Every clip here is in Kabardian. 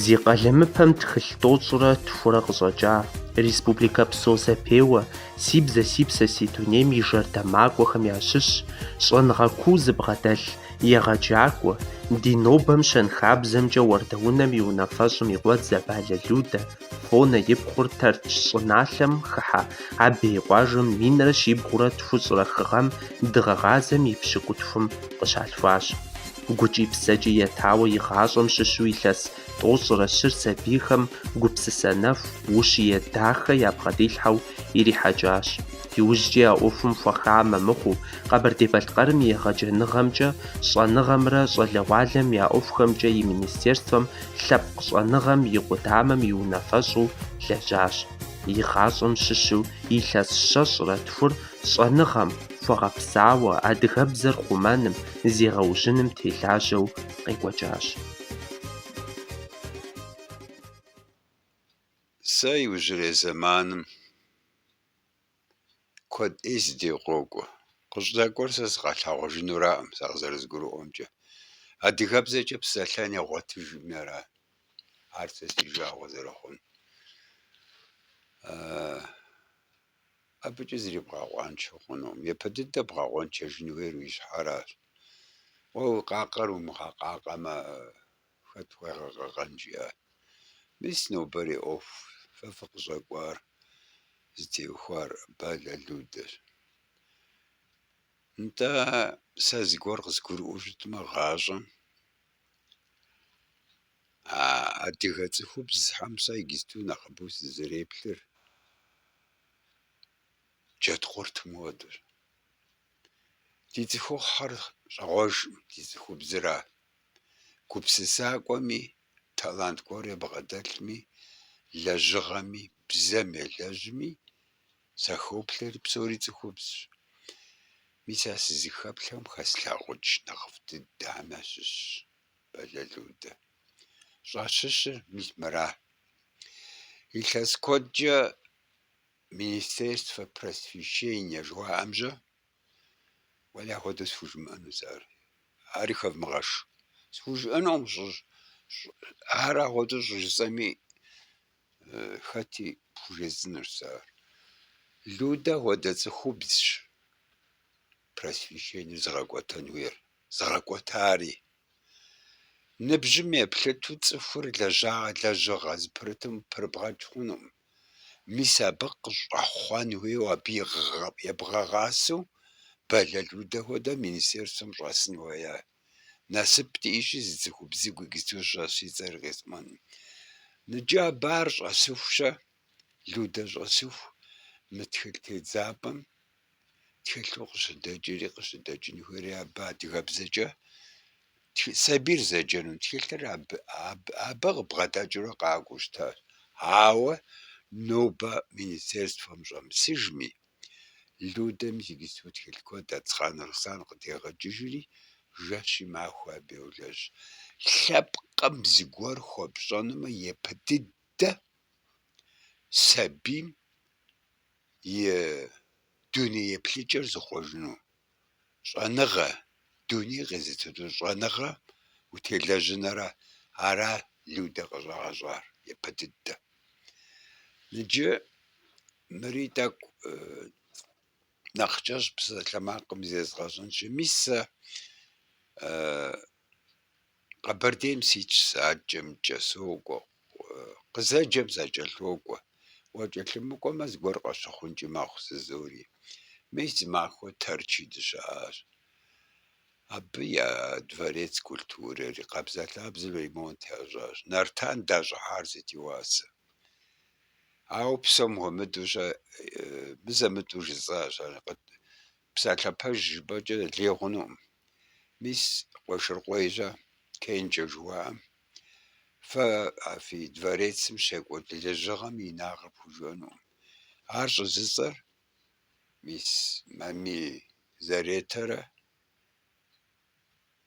Зи къалэмыпэм тхылъ тӏощӏрэ тхурэ къыщӏэкӏа, республикэпсо зэпеуэ Си бзэ си псэ си дунейм и жэрдэмакӏуэхэм ящыщ щӏэныгъэ куу зыбгъэдэлъ егъэджакӏуэ, ди нобэм щэнхабзэмкӏэ уардэунэм и унафэщӏым и къуэдзэ Балэ Людэ. Хъунэ и пхъур Тэрч щӏыналъэм хыхьэ Абей къуажэм минрэ щибгъурэ тхущӏрэ хы гъэм дыгъэгъазэм и пщыкӏутхум къыщалъхуащ. Гукӏи псэкӏи етауэ и гъащӏэм щыщу илъэс тӏощӏрэ щыр сабийхэм гупсысэ нэху, ущие дахэ ябгъэдилъхьэу ирихьэкӏащ. Иужькӏи а ӏуэхум хуэхамэ мыхъуу, Къэбэрдей-Балъкъэрым егъэджэныгъэмкӏэ, щӏэныгъэмрэ щӏалэгъуалэм я ӏуэхухэмкӏэ и министерствэм лъэпкъ щӏэныгъэм и къудамэм и унафэщӏу лэжьащ. И гъащӏэм щыщу илъэс щэщӏрэ тхур щӏэныгъэм хуэгъэпсауэ, адыгэбзэр хъумэным, зегъэужьыным телажьэу къекӏуэкӏащ. Сэ иужьрей зэманым куэд ӏей си де къокӏуэ. Къыщӏэкӏуэр сэ сыкъалъагъужынураӏым, сэ къызэрызгурыӏуэмкӏэ. Адыгэбзэкӏэ псэлъэн ягъуэтыжӏыми ара, ар сэ си жагъуэ зэрыхъун. Абычӏэ зыри бгъэкъуаншэ хъунукъым. Япэ дыдэ бгъэкъуэнчэжын хуейр уи щхьэращ. Уэ уи къакъэр умыгъэкъакъэмэ, Хэт пхуигъэкъэкъэн жиӏа? Мис нобэрей ӏуэху фэ фыкъыщӏэкӏуар зытеухуар Балэ Людэщ. Нтӏэ, сэ зыгуэр къызгурыӏуэу щытмэ, гъащӏэм а адыгэ цӏыхубзхэм сэ иджыпсту нэхъыбэу сызэреплъыр джэдкъуртым хуэдэщ. Ди цӏыхухъухьэр щӏэгъуэжкъым, ди цӏыхубзра. Гупсысакӏуэми, талант гуэр ябгъэдэлъми, лэжьыгъэми, бзэм елэжьми, сахоплъэри псори цӏыхубзщ. Мис а сызыхэплъхэм хэслъагъукӏ нэхъыфӏ дыдэхэм ящыщщ Балэ Людэ. Щӏащыщыр мис мыра. Илъэс куэдкӏэ Министерство просвещения жыхуаӏэмжьэ Уэлэхьэ, ахуэдэу схужымыӏэну сэ ар, ари хэвмыгъэш. Схужыӏэнукъым, щӏыщӏ- щӏы- ар ахуэдэу щӏыжысӏэми, хэти пхужесӏэнущ сэ ар. Людэ хуэдэ цӏыхубзщ просвещенэр зыгъэкӏуэтэн хуейр, зыгъэкӏуэтари. Ныбжьым еплъыту цӏыхур лэжьа- лэжьыгъэ зыпэрытым пырыбгъэчӏ хъунукъым. Мис абы къыщӏэхъуэн хуейуэ, абы ебгъэгъасэу Бэлэ Людэ хуэдэ министерствэм щӏэсын хуея? Насып диӏэщи, зы цӏыхубзыгу иджы щӏэсщ, и цӏэр къисӏуэнукъым. Иджы абы ар щӏэсыхущэ, Людэ щӏэсыху, мы тхылъ тедзапӏэм Тхылъу къыщыдэкӏри къыщыдэкӏынхэри абы адыгэбзэкӏэ сабийр зэджэну тхылъыр абы абы къыбгъэдэкӏыурэ къакӏуэу щытащ. Ауэ нобэ министерствэм щӏэмысыжми, Людэ мис иджыпсту тхылъ куэд Ацхъан Руслан къыдегъэкӏыжри, жэщи махуи абы йолэжь. Лъэпкъым зыгуэр хуэпщӏэнумэ, япэ дыдэ сабийм и дуней еплъыкӏэр зыхъуэжыну. Щӏэныгъэ, дуней къезытыну щӏэныгъэ утелэжьыныра. Ара Людэ къыщӏагъэщӏар япэ дыдэ. Иджы мыри тӏэкӏу нэхъ кӏэщӏ псалъэмакъым зезгъэщӏынщи, мис сэ Къэбэрдейм ситщ сашэмкӏэ сокӏуэ, къызэджэм сакӏэлъокӏуэ. Уакӏэлъымыкӏуэмэ, зыгуэр къащыхъункӏи мэхъу жызоӏэри. Мис зы махуэ Тэрчи дыщыӏащ. Абы я дворец культурэри, къабзэ-лъабзэу ремонт ящӏащ. Нартан дащӏыхьар сыт и уасэ. Ауэ псом хуэмыдэу сэ мызэ-мытӏэу жысӏащ ар. Псалъэ пэж жыпӏэкӏэ лей хъунукъым. Мис Къуэшыркъуей щэ, Кенжэ жыуаӏэм, фэ а фи дворецым щекӏуэкӏ лэжьыгъэм инагъыр пхужыӏэнукъым. Ар щӏыжысӏэр мис Мамий Заретэрэ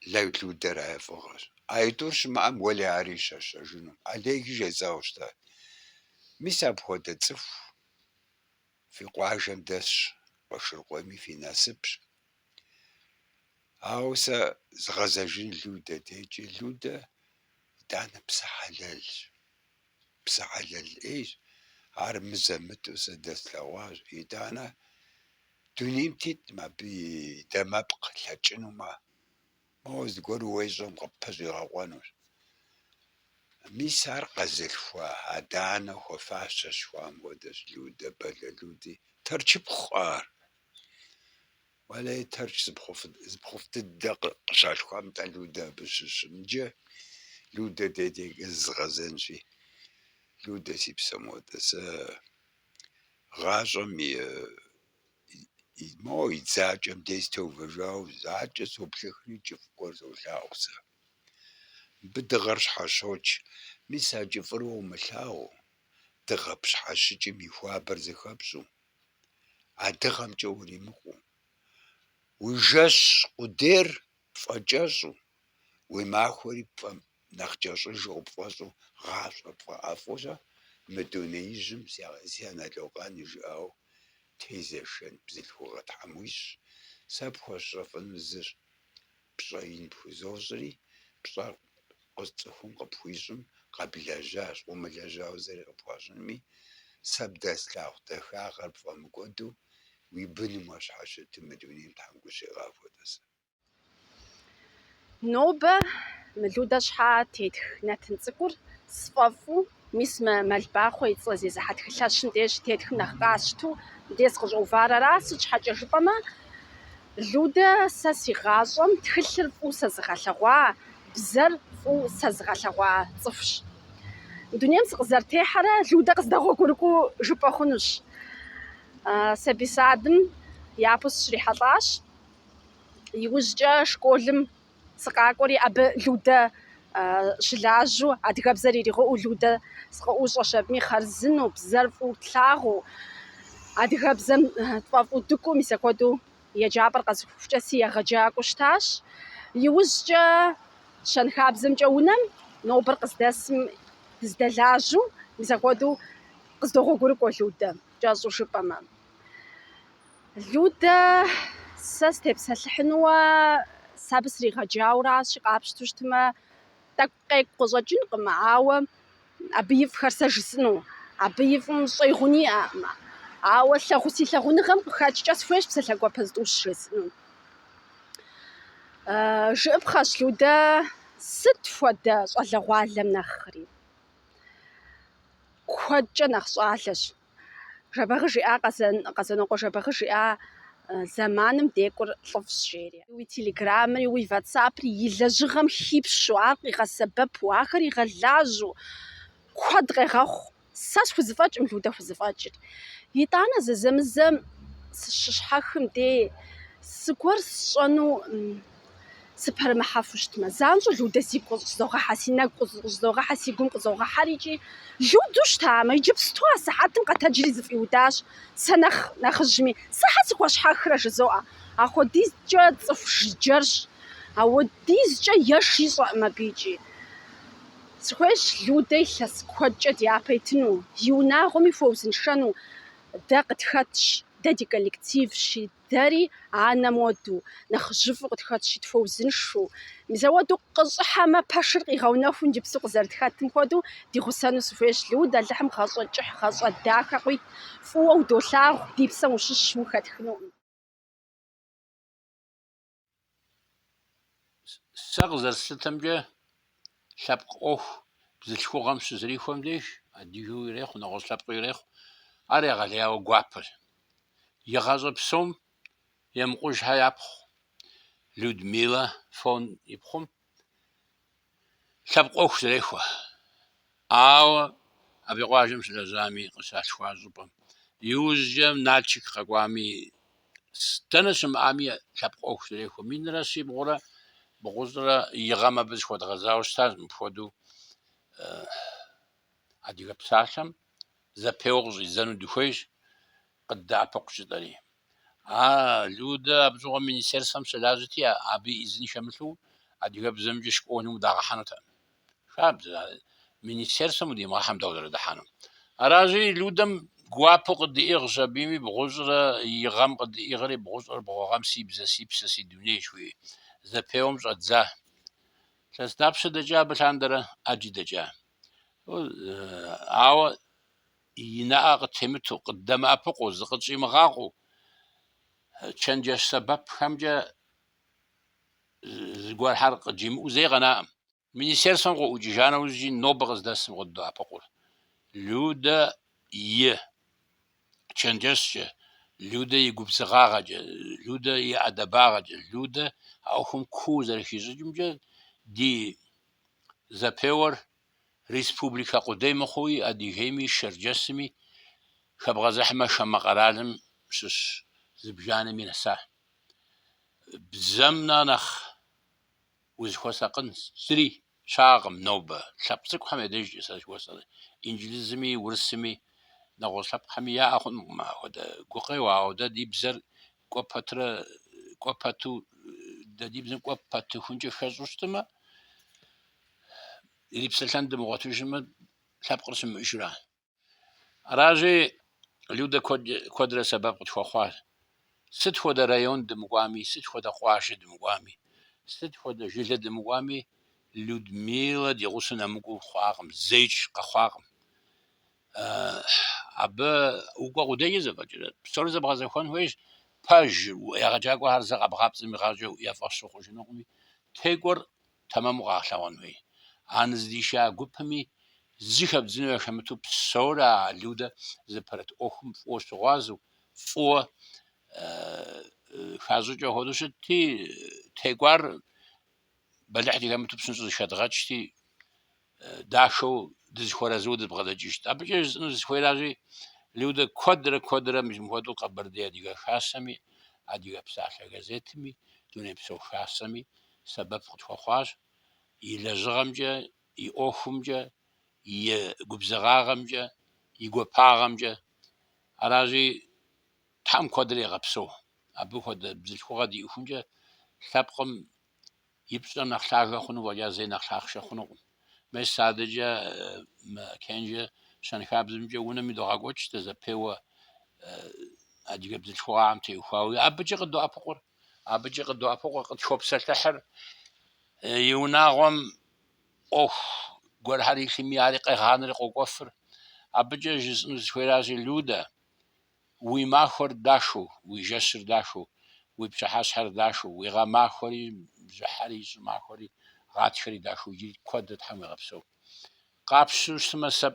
Бэлэ Людэрэ я фӏыгъэщ. А итӏур щымыӏэм уэли ари щэщэжынукъым. Олеги жесӏауэ щытащ. Мис апхуэдэ цӏыху Фи къуажэм дэсщ Къуэшыркъуейми фи насыпщ. Ауэ сэ згъэзэжын Людэ дейкӏэ. Людэ итӏанэ псэ хьэлэлщ. Псэ хьэлэл ӏейщ. Ар мызэ-мытӏэу сэ дэслъэгъуащ. Итӏанэ дунейм тетӏым абы и дамэпкъ лъэкӏынумэ. Моуэ зыгуэр уещӏэм къыпщӏигъэкъуэнущ. Мис ар къэзылъхуа, адэ-анэу хуэфащэщ, хуам хуэдэщ Людэ, Бэлэ Люди. Тэрчыпхъу ар. Уэлэхьи, Тэрч зы пхъуфӏ дыдэ къыщалъхуам нтӏэ Людэ абы щыщым. Иджы Людэ дедейкӏэ зызгъэзэнщи, Людэ си псэм хуэдэ, сэ гъащӏэм и Моуэ и дзакӏэм дей сытеувэжауэ, занщӏэу соплъыхри, кӏыфӏ гуэр солъагъу сэ. Мыбы дыгъэр щхьэщокӏ. Мис а кӏыфӏыр уэ умылъагъуу, дыгъэ пщхьэщыкӏым и хуабэр зэхэпщӏу, а дыгъэмкӏэ уримыкъуу. Уи жэщ къудейр пфӏэкӏэщӏу, Уи махуэри пфӏэ, нэхъ кӏэщӏыжу къыпфӏэщӏу, гъащӏэ пфӏэӏэфӏу-щэ мы дунеижьым си анэ локъан и жыӏэу тезэшэн бзылъхугъэ Тхьэм уищӏ, сэ пхуэсщӏэфыну зыщ. Пщӏэ ин пхузощӏри, пщӏэр цӏыхум къыпхуищӏым къэблэжьащ, къыумылэжьауэ зыри къыпхуащӏынми, сэ бдэслъагъу дахагъэр пфӏэмыкӏуэду уи быным уащхьэщытым мы дунейм Тхьэм гу щуигъахуэ, Дэсэ. Нобэ мы Людэ щхьэ тетх нэтын цӏыкӏур сфӏэфӏу, мис мы Мэлбахъуэ и цӏэ зезыхьэ тхылъэщым деж тетхым нэхъ къасщту дей скъыщӏэувар ара. Сыт щхьэкӏэ жыпӏэмэ, Людэ сэ си гъащӏэм тхылъыр фӏыу сэзыгъэлъэгъуа, бзэр фӏыу сэзыгъэлъэгъуа цӏыхущ. Дунейм сыкъызэрытехьэрэ Людэ къыздэгъуэгурыкӏуэу жыпӏэ хъунущ. Сабий садым япэу сыщрихьэлӏащ. Иужькӏэ школым сыкъакӏуэри, абы Людэ щылажьэу, адыгэбзэр иригъыӏэу Людэ сыкъыӏущӏэщ. Абыми хъарзынэу, бзэр фӏыуэ тлъагъуу, адыгэбзэм тфӏэфӏу дыкӏуэу, мис апхуэдэу еджапӏэр къэзухыхукӏэ си егъэджакӏуэу щытащ. Иужькӏэ щэнхабзэмкӏэ унэм нобэр къыздэсым дыздэлажьэу, мис апхуэдэу къыздогъуэгурыкӏуэ Людэ, кӏэщӏу жыпӏэмэ. Людэ, сэ степсэлъыхьыну сэ абы сригъэджауэращи, къапщту щытмэ, тӏэкӏу къекӏу къыщӏэкӏынкъым, ауэ абы и фӏхэр сэ жысӏыну. Абы и фӏым щӏэи гъуни иӏэкъым. Ауэ лъагъу, си лъагъуныгъэм къыхэкӏкӏэ схуейщ псалъэ гуапэ зытӏущ жесӏыну. Жыӏыпхъэщ, Людэ, сыт хуэдэ щӏалэгъуалэм нэхъри куэдкӏэ нэхъ щӏалэщ. Жэбагъы жиӏа Къэзэн, Къэзэнокъуэ Жэбагъы жиӏа зэманым декӏур лӏыфӏщ, жери. Уи телеграммэри, уи ватсапри и лэжьыгъэм хипщу, ар къигъэсэбэпу, ахэр игъэлажьэу куэд къегъэхъу. Сэ схузэфӏэкӏым, Людэ хузэфӏэкӏыр. Итӏанэ зэзэмызэ сыщыщхьэхым дей, зыгуэр сщӏэну. сыпэрымыхьэфу щытмэ. Занщӏэу Людэ сигу къыщӏызогъэхьэ, си нэгу къыщӏызогъэхьэ, си гум къызогъэхьэр икӏи. Людэу щытамэ, иджыпсту а сыхьэтым къэтэджри зыфӏиудащ сэ нэхъ нэхъыжьми. Щхьэ сыхуэщхьэхрэ жызоӏэ. Ахуэдизкӏэ цӏыху жыджэрщ. Ауэдизкӏэ еш ищӏэкъым абы икӏи. Сыхуейщ Людэ илъэс куэдкӏэ ди япэ итыну, и унагъуэми хуэузыншэну. Дэ къытхэтщ, дэ ди коллективщи. Дэри анэм хуэдэу, нэхъыжьыфӏу къытхэтщи, тхуэузыншу. Мазэ хуэдэу къыщӏыхьэмэ, пэшыр къигъэунэхуу иджыпсу къызэрытхэтым хуэдэу ди гъусэну сыхуейщ. Люд, Алыхьым гъэщӏэ кӏыхь, гъэщӏэ дахэ къуит фӏыуэ удолъагъу, ди псэм ущыщщ, ухэтхынукъым. Сэ къызэрыслъытэмкӏэ, лъэпкъ ӏуэху бзылъхугъэм щызэрихуэм деж, адыгэу ирехъу, нэгъуэщӏ лъэпкъыу ирехъу, ар егъэлеяуэ гуапэщ. И гъащӏэ псом Емыкъужхьэ япхъу Людмилэ Фон ипхъум Лъэпкъ ӏуэху зэрехуэ. Ауэ абы и къуажэм щылэжьами, къыщалъхуа щӏыпӏэм. Иужькӏэ Налшык къэкӏуами, дэнэ щымыӏами, лъэпкъ ӏуэху зэрехуэ. Минрэ щибгъурэ бгъущӏрэ и гъэм абы зыхуэдгъэзауэ щытащ мыпхуэдэу Адыгэ псалъэм зэпеуэ къыщӏидзэну дыхуейщ, къыддэӏэпыкъу жытӏэри. А Людэ абы щыгъуэм министерствэм щылажьэти, абы изын хэмылъу адыгэбзэмкӏэ школым удагъэхьэнутэкъым. Хабзэ, а министерствэм удимыгъэхьэм дауэ зэрыдыхьэну? Аращи, Людэм гуапэу къыддиӏыгъщ, абыми бгъущӏрэ и гъэм къыддиӏыгъри, бгъущӏрэ бгъу гъэм си бзэ, си псэ, си дуней жыхуиӏэ зэпеуэм щӏэддза. Илъэс дапщэ дэкӏа абы лъандэрэ? ӏэджи дэкӏа. Ауэ и нэӏэ къытемыту, къыддэмыӏэпыкъуу, зыкъытщӏимыгъакъуэу, чэнджэщ сэбэпхэмкӏэ зыгуэрхэр къыджимыӏэу зэи къэнаӏым. Министерствэм къыӏукӏыжа нэужьи, нобэ къыздэсым къыддоӏэпыкъур Людэ и чэнджэщкӏэ, Людэ и губзыгъагъэкӏэ, Людэ и ӏэдэбагъэкӏэ, Людэ а ӏуэхум куу зэрыхищӏыкӏымкӏэ ди зэпеуэр республикэ къудей мыхъууи Адыгейми Шэрджэсми хэбгъэзыхьмэ хамэ къэралым щыщ зыбжанэми нэса. Бзэм нэхъ нэхъ узыхуэсакъын зыри щыӏэкъым нобэ, лъэпкъ цӏыкӏухэм я дежкӏэ сэ сщӏэрэ, инджылызми, урысми, нэгъуэщӏ лъэпкъхэми яӏэ хъунукъым апхуэдэ гукъеуэ, ауэ дэ ди бзэр кӏуэ пэтрэ, кӏуэ пэту, дэ ди бзэм кӏуэ пэтыхункӏэ хэщӏу щытымэ, Ирипсэлъэн дымыгъуэтыжмэ, лъэпкъыр щымыӏэжрэ? Аращи, Людэ куэдрэ сэбэп къытхуэхъуащ. Сыт хуэдэ район дымыкӏуами, сыт хуэдэ къуажэ дымыкӏуами, сыт хуэдэ жылэ дымыкӏуами, Людмилэ ди гъусэу нэмыкӏуэу хъуакъым, зеикӏ къэхъуакъым. Абы укӏуэ къудейкӏэ зэфӏэкӏрэ? Псори зэбгъэзэхуэн хуейщ. Пэжыр, егъэджакӏуэхэр зэ къэбгъапцӏэм игъащӏэу я фӏэщ ухъужынукъыми, текӏуэр тэмэму къагъэлъэгъуэн хуей. Ар нызыдиша гупми, зы хэбдзыну яхэмыту псори а Людэ зыпэрыт ӏуэхум фӏыуэ щыгъуазэу, фӏыуэ хащӏыкӏыу хуэдэу щытти, текӏуар бэлыхь дыхэмыту псынщӏэу зэхэдгъэкӏти, дахэу дызэхуэарэзыуэ дызэбгъэдэкӏыжт. Абыкӏэ жысӏэну зысхуейращи, Людэ куэдрэ куэдрэ мыпхуэдэу Къэбэрдей Адыгэ Хасэми, Адыгэ псалъэ газетми, Дунейпсо Хасэми сэбэп къытхуэхъуащ и лэжьыгъэмкӏэ, и ӏуэхумкӏэ, и губзыгъагъэмкӏэ, и гуапагъэмкӏэ. Аращи, Тхьэм куэдрэ игъэпсэу абы хуэдэ бзылъхугъэ диӏэхункӏэ лъэпкъым И пщӏэр нэхъ лъагэ хъуну фӏэкӏа зэи нэхъ лъахъшэ хъунукъым. Мес сэ адэкӏэ мы Кэнжэ щэнхабзэмкӏэ унэм идогъэкӏуэкӏ дэ зэпеуэ адыгэ бзылъхугъагъэм теухуауи. Абыкӏэ къыддоӏэпыкъур, абыкӏэ къыддоӏэпыкъур къытхопсэлъыхьыр и унагъуэм ӏуэху гуэрхэр илъми, ари къегъанэри къокӏуэфыр. Абыкӏэ жысӏэну сызыхуейращи, Людэ, Уи махуэр дахэу, уи жэщыр дахэу, уи пщыхьэщхьэр дахэу, уи гъэмахуэри, бжьыхьэри, щӏымахуэри, гъатхэри дахэу иджыри куэду Тхьэм уигъэпсэу. Къапщтэу щытмэ, сэ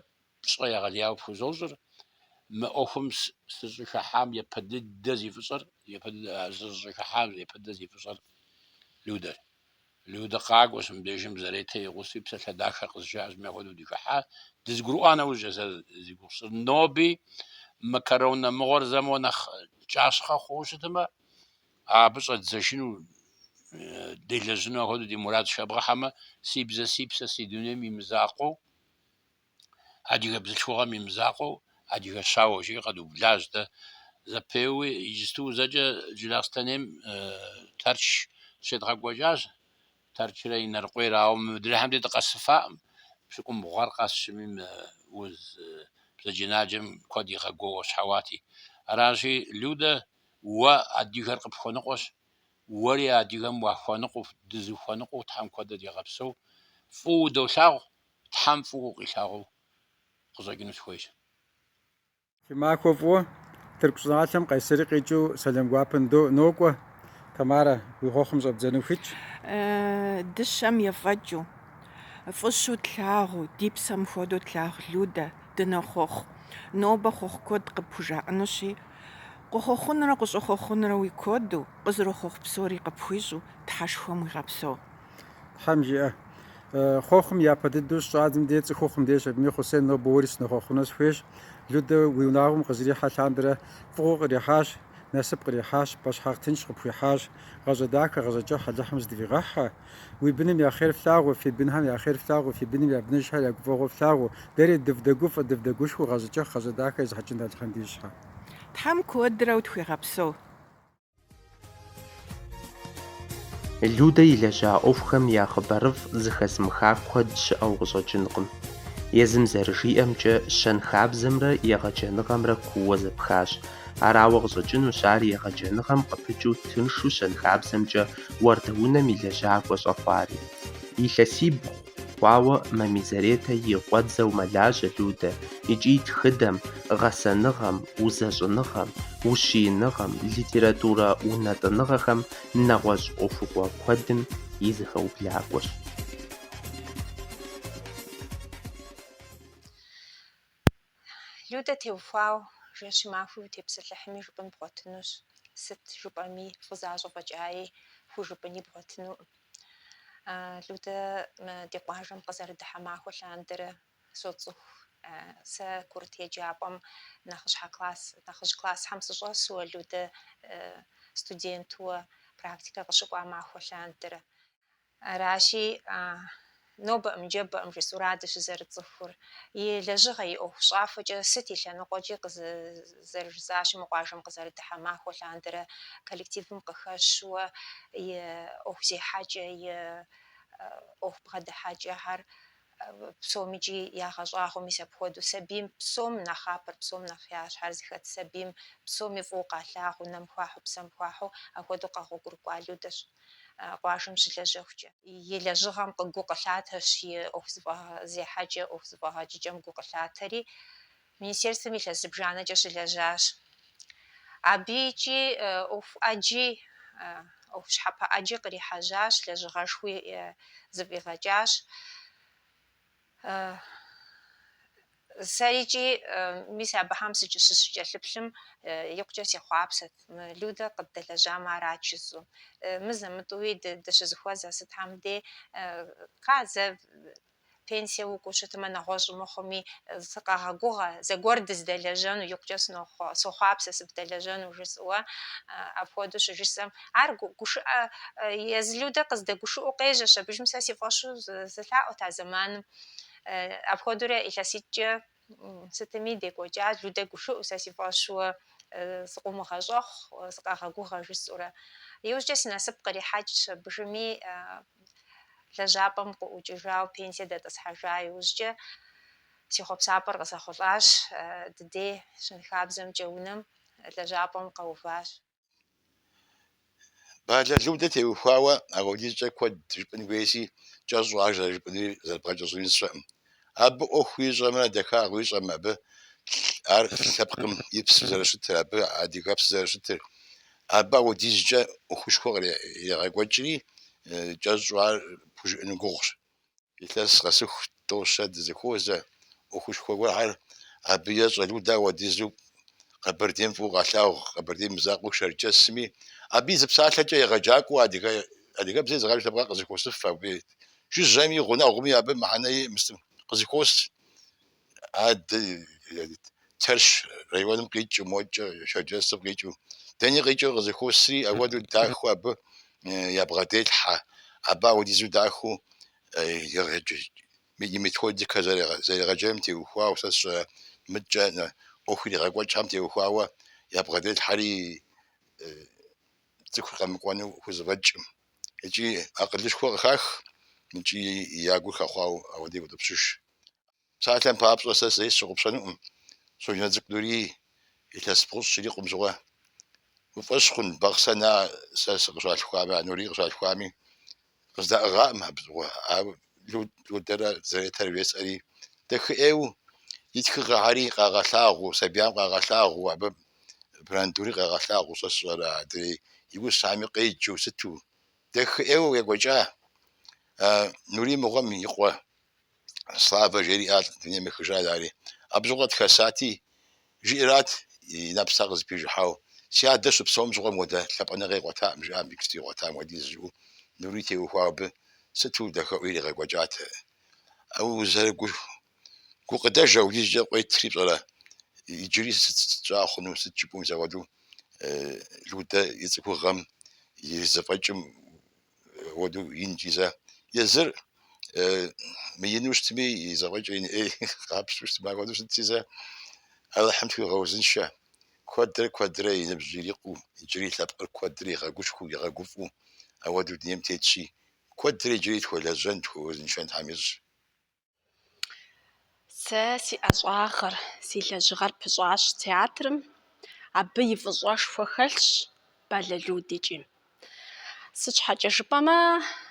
пщӏэ егъэлеяуэ пхузощӏыр, мы ӏуэхум сыщӏыхыхьам япэ дыдэ зи фӏыщӏэр, сыщӏыхыхьам япэ дыдэ зи фӏыщӏэр, Людэр. Людэ къакӏуэщ мыбдежым Заретэ и гъусэу и псалъэ дахэр къызжаӏащ, мыпхуэдэ хуэдэу дыхыхьа, дызэгурыӏуа нэужькӏэ сэ зи гугъу сщӏыр. Ноби мы корона мыгъуэр зэ моуэ нэхъ кӏащхъэ хъууэ щытмэ, абы щӏэддзэжыну, делэжьыну апхуэдэу ди мурадщ, хэбгъэхьэмэ, си бзэ, си псэ, си дунейм и мызакъуэу. Адыгэ бзылъхугъэм и мызакъуэу Адыгэ щауэ жиӏэр къэдублащ дэ зэпеуи. Иджысту зэкӏэ Джылахъстэнейм Тэрч щедгъэкӏуэкӏащ. Тэрчрэ Инарыкъуейрэ. Ауэ мыдрейхэм дэ дыкъэсыфаӏым. Пщыкӏубгъур къэсщӏми мы уз бзаджэнаджэм куэд игъэгуауэщхьэуати. Аращи, Людэ, уэ адыгэр къыпхуэныкъуэщ. Уэри адыгэм уахуэныкъуэу, дызэхуэныкъуэу Тхьэм куэдрэ дигъэпсэу. Фӏыуэ удолъагъу, Тхьэм фӏыуэ укъилъагъуу къыщӏэкӏыну сыхуейщ. Фи махуэ фӏыуэ Тырку щӏыналъэм къесри къикӏыу сэлам гуапэ ндо, нокӏуэ. Тамарэ, уи хъуэхъум щӏэбдзэну ухуитщ. Дыщэм ефӏэкӏыу, фӏыщу тлъагъу, ди псэм хуэдэу тлъагъу Людэ, дынохъуэхъу. Нобэ хъуэхъу куэд къыпхужаӏэнущи, къыхъуэхъунрэ къыщӏыхъуэхъунрэ уи куэду, къызэрохъуэхъу псори къыпхуищӏу Тхьэшхуэм уигъэпсэу. Тхьэм жиӏэ. Хъуэхъум япэ дыдэу щӏадзэм деж цӏыхухъум дежщ абыми Хъусен нобэ уэри сынохъуэхъуну сыхуейщ. Людэ уи унагъуэм къызрихьэ лъандэрэ фӏыгъуэ кърихьащ, насып кърихьащ, пӏэщхьагъ тынш къыпхуихьащ. Гъащӏэ дахэ, гъащӏэ кӏыхь Алыхьым зэдывигъэхь. Уи быным я хъер флъагъуу, фи бынхэм я хъер флъагъуу, фи быным я быныжхэр я гуфӏэгъуэ флъагъуу. Дэри дывдэгуфӏэ, дывдэгушхуэу гъащӏэ кӏыхь, гъащӏэ дахэ езыхьэкӏын Алыхьым дищӏхэ. Тхьэм куэдрэ утхуигъэпсэу. Людэ илэжьа ӏуэхухэм я хъыбарыфӏ зыхэзмыха куэд щыӏэу къыщӏэкӏынкъым. Езым зэрыжиӏэмкӏэ, щэнхабзэмрэ егъэджэныгъэмрэ кууэ зэпхащ. Арауэ къыщӏэкӏынущ ар егъэджэныгъэм къыпыкӏыу тыншу щэнхабзэмкӏэ уардэунэм и лэжьакӏуэ щӏэхъуари. Илъэсибгъу. Хъуауэ Мамий Заретэ и къуэдзэу мэлажьэ Людэ икӏи тхыдэм, гъэсэныгъэм, узэщӏыныгъэм, ущииныгъэм, литературэ унэтӏыныгъэхэм нэгъуэщӏ ӏуэхугъуэ куэдым и зэхэублакӏуэщ. Людэ теухуау жэщи махуи утепсэлъыхьми жыпӏэн бгъуэтынущ, сыт жыпӏэми фӏызащӏэ фӏэкӏаи хужыпӏэни бгъуэтынукъым. Людэ ди къуажэм къызэрыдыхьэ махуэ лъандэрэ соцӏыху. Сэ курыт еджапӏэм нэхъыщхьэ класс, нэхъыжь классхьэм сыщӏэсуэ Людэ студентуэ практикэ къыщыкӏуа махуэ лъандэрэ. Аращи, Нобэӏым, ныжэбэӏым жысӏэу арат дыщызэрыцӏыхур. И лэжьыгъэ, и ӏуэхущӏафэкӏэ сыт и лъэныкъуэкӏи къызэрыжысӏащи, мы къуажэм къызэрыдыхьэ махуэ лъандэрэ коллективым къыхэщуэ и ӏуэхузехьэкӏэ, и ӏуэху бгъэдыхьэкӏэхэр псомикӏи ягъэщӏагъуэу, мис апхуэдэу сабийм псом нэхъапэр, псом нэхъыщхьэр зыхэт сабийм псоми фӏыуэ къалъагъу, нэм хуахьу, псэм хуахьу, апхуэдэу къэгъуэгурыкӏуа Людэщ. къуажэм щылэжьэхукӏэ. И лэжьыгъэм гу къылъатэщ и ӏуэху зэфӏэгъэзехьэкӏэ, ӏуэху зэфӏэгъэкӏыкӏэм гу къылъатэри, Министерствэм илъэс зыбжанэкӏэ щылэжьащ. Абы икӏи ӏуэху ӏэджи, ӏуэху щхьэпэ ӏэджи кърихьэжьащ, лэжьыгъэшхуи зэфӏигъэкӏащ. Сэрикӏи мис абыхэм сыщыкӏэлъыплъым, икъукӏэ сехъуапсэт мы Людэ къыддэлэжьам арат жысӏэу. Мызэ-мытӏэуи дыщызэхуэзэ сытхэм дей, кхъа, зэ пенсие укӏуэу щытмэ, нэгъуэщӏ мыхъуми, сыкъэгъэгугъэ, зэгуэр дыздэлэжьэну, икъукӏэ сохъуапсэ сыбдэлэжьэну жысӏэуэ. Апхуэдэу щыжысӏэм. Ар гу- гушыӏэ э, езы Людэ къыздэгушыӏэу къежьэщ, абыжым сэ си фӏэщу сы- сылъаӏуэт а зэманым. Э, Апхуэдэурэ илъэситӏкӏэ м, сытми декӏуэкӏа, Людэ гушыӏэу, сэ си фӏэщуэ э, сыкъыумыгъэщӏэхъу, э, сыкъэгъэгугъэ жысӏэурэ. Иужькӏэ си насып кърихьэкӏщ, абыжыми э, лэжьапӏэм къыӏукӏыжауэ, пенсие дэтӏысхьэжа иужькӏэ си хъуэпсапӏэр къызэхъулӏащ, э, ди дей щэнхабзэмкӏэ унэм лэжьапӏэм къэуващ. Балэ Людэ теухуауэ апхуэдизкӏэ куэд жыпӏын хуейщи, кӏэщӏу ар зэрыжыпӏэнури зэрыбгъэкӏэщӏынури сщӏэкъым. Абы ӏуэхуу ищӏэмрэ, дахагъэу ищӏэмрэ, абы ар лъэпкъым и псэу зэрыщытыр, абы адыгэпсэу зэрыщытыр. Абы апхуэдизкӏэ ӏуэхушхуэ кърегъэкӏуэкӏри, кӏэщӏу ар пхужыӏэну гугъущ. Илъэс къэсыху тӏо-щэ дызэхуозэ ӏуэхушхуэ гуэрхэр. Абы ещӏэ Людэ, ауэдизу Къэбэрдейм фӏыуэ къалъагъу Къэбэрдейм и мызакъуэу Шэрджэсми. Абы и зы псалъэкӏэ егъэджакӏуэу адыгэ адыгэбзэ езыгъэдж лъэпкъыр къызэхуосыф. Абы жыжьэми, гъунэгъуми абы мыхьэнэ иӏэкъым, сытми къызэхуос. Адэ Тэрч районым къикӏыу, модкӏэ Шэрджэсым къикӏыу, дэни къикӏыу къызэхуосри, апхуэдэу дахэу абы ябгъэделъхьэ, абы ауэдизу дахэу и методикэр зэрегъэджэным теухуауэ, сэ сщӏэрэ мыдкӏэ ӏуэху иригъэкӏуэкӏхэм теухуауэ ябгъэделъхьэри цӏыхур къэмыкӏуэну хузэфӏэкӏкъым икӏи акъылышхуэ къыхах икӏи я гур хэхъуауэ ауэдэу къеутӏыпщыж. Псалъэм папщӏэ, сэ зэи сщыгъупщэнукъым Щоджэнцӏыкӏу Нурий илъэс бгъущӏ щрикъум щыгъуэ. Уи фӏэщ хъун Бахъсэн а сэ сыкъыщалъхуами, а Нурий къыщалъхуами къыздаӏыгъакъым абы щыгъуэ, ауэ Людэрэ Заретэрэ жесӏэри, дахэӏейуэ и тхыгъэхэри къагъэлъагъуу, сабиям къагъэлъагъуу, абы Брандури къагъэлъагъуу, сэ сщӏэрэ адрей и усами къеджэу сыту дахэӏейуэ екӏуэкӏа а Нурий мыгъуэм и къуэ. Славэ жери ар дунейм ехыжа ари абы щыгъуэ хэсати жиӏэрат и нэпсхэр къызэпижыхьауэ си адэ щыпсэум щыгъуэм ауэдэ лъапӏэныгъэ игъуэтакъым жиӏа мыбыкӏэ игъуэтам хуэдиз жиӏэу Нурий теухуауэ абы сыту дахэӏейуэ иригъэкӏуэкӏат ауэ узэрыгу- гукъыдэж ауэдизкӏэ къуетри пщӏэрэ иджыри сыт щӏа хъуну сыт жыпӏэу мис апхуэдэу Людэ и цӏыхугъэм и зэфӏэкӏым уэдэу инкӏи зэ. Езыр мыину щытми, и зэфӏэкӏыр ин ӏей къапщтэу щытмэ, ахуэдэу щытти зэ. Алыхьым тхуигъэузыншэ. Куэдрэ куэдрэ и ныбжь ирикъуу, иджыри и лъэпкъыр куэдрэ игъэгушхуэу, игъэгуфӏэу ауэдэу дунейм тетщи, куэдрэ иджыри тхуэлэжьэн, тхуэузыншэн Тхьэм ищӏ. Сэ си ӏэщӏагъэр, си лэжьыгъэр пыщӏащ театрым. Абы и фӏыщӏэшхуэ хэлъщ Балэ Людэ. Икӏи сыт щхьэкӏэ жыпӏэмэ,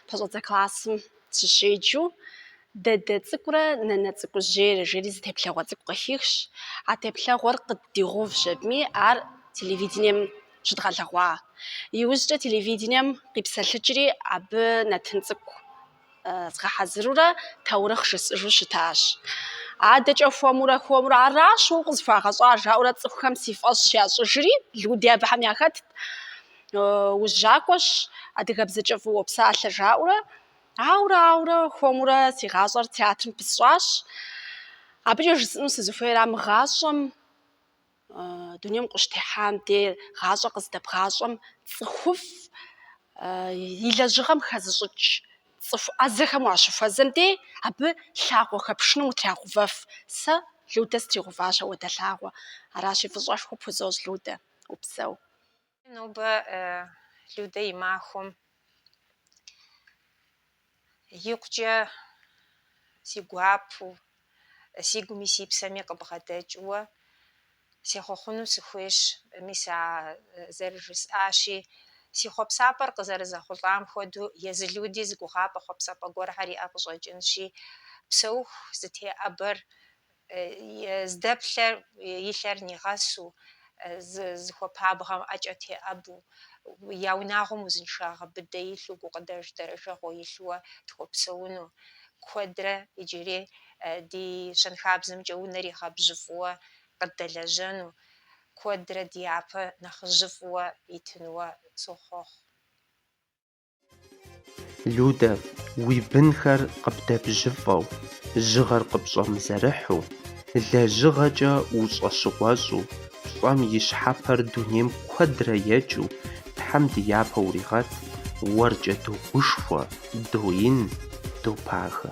пэщӏэдзэ классым сыщеджэу Дадэ цӏыкӏурэ Нанэ цӏыкӏужьейрэ жери зы теплъэгъуэ цӏыкӏу къыхихщ. А теплъэгъуэр къыддигъэувщ абыми, ар телевидением щыдгъэлъэгъуа. Иужькӏэ телевидением къипсэлъыкӏри, абы нэтын цӏыкӏу згъэхьэзырурэ таурыхъ жысӏыжу щытащ. Адэкӏэ хуэмурэ хуэмурэ аращ уэ укъызыхуагъэщӏар жаӏэурэ цӏыхухэм си фӏэщ ящӏыжри, Люди абыхэм яхэтт. Ужьакӏуэщ, адыгэбзэкӏэ фӏыуэ уопсалъэ жаӏэурэ. Ауэрэ, ауэрэ, хуэмурэ си гъащӏэр театрым пысщӏащ. Абыкӏэ жысӏэну сызыхуейра, мы гъащӏэм Дунейм къыщытехьам де гъащӏэ къыздэбгъащӏэм цӏыхуфӏ и лэжьыгъэм хэзыщӏыкӏ цӏыху ӏэзэхэм уащыхуэзэм де абы лъагъуэ хэпшынум утрагъэувэф. Сэ Людэ сытригъэуващ ауэдэ лъагъуэ. Аращи, фӏыщӏэшхуэ пхузощӏ, Людэ, упсэу. Нобэ Людэ и махуэм икъукӏэ си гуапэу, си гуми си псэми къыбгъэдэкӏыуэ сехъуэхъуну сыхуейщ. Мис а зэрыжысӏащи, си хъуэпсапӏэр къызэрызэхъулӏам хуэдэу, езы Люди зы гугъапӏэ хъуэпсапӏэ гуэрхэр иӏэ къыщӏэкӏынщи, псэуху зытеӏэбэр Здэплъэр и лъэр нигъэсу, зыхуэпабгъэм ӏэкӏэ теӏэбу, я унагъуэм узыншагъэ быдэ илъу, гукъыдэж дэрэжэгъуэ илъууэ тхуэпсэуну. Куэдрэ иджыри ди щэнхабзэмкӏэ унэр игъэбжьыфӏууэ къыддэлэжьэну, куэдрэ ди япэ нэхъыжьыфӏууэ итынууэ сохъуэхъу. Людэ, уи бынхэр къыбдэбжьыфӏэу, жьыгъэр къыпщӏэмызэрыхьу, лэжьыгъэкӏэ ущӏэщыгъуэщӏу, пщӏэм и щхьэпэр дунейм куэдрэ екӏыу Тхьэм ди япэ уригъэт, уэркӏэ догушхуэ, доин, допагэ.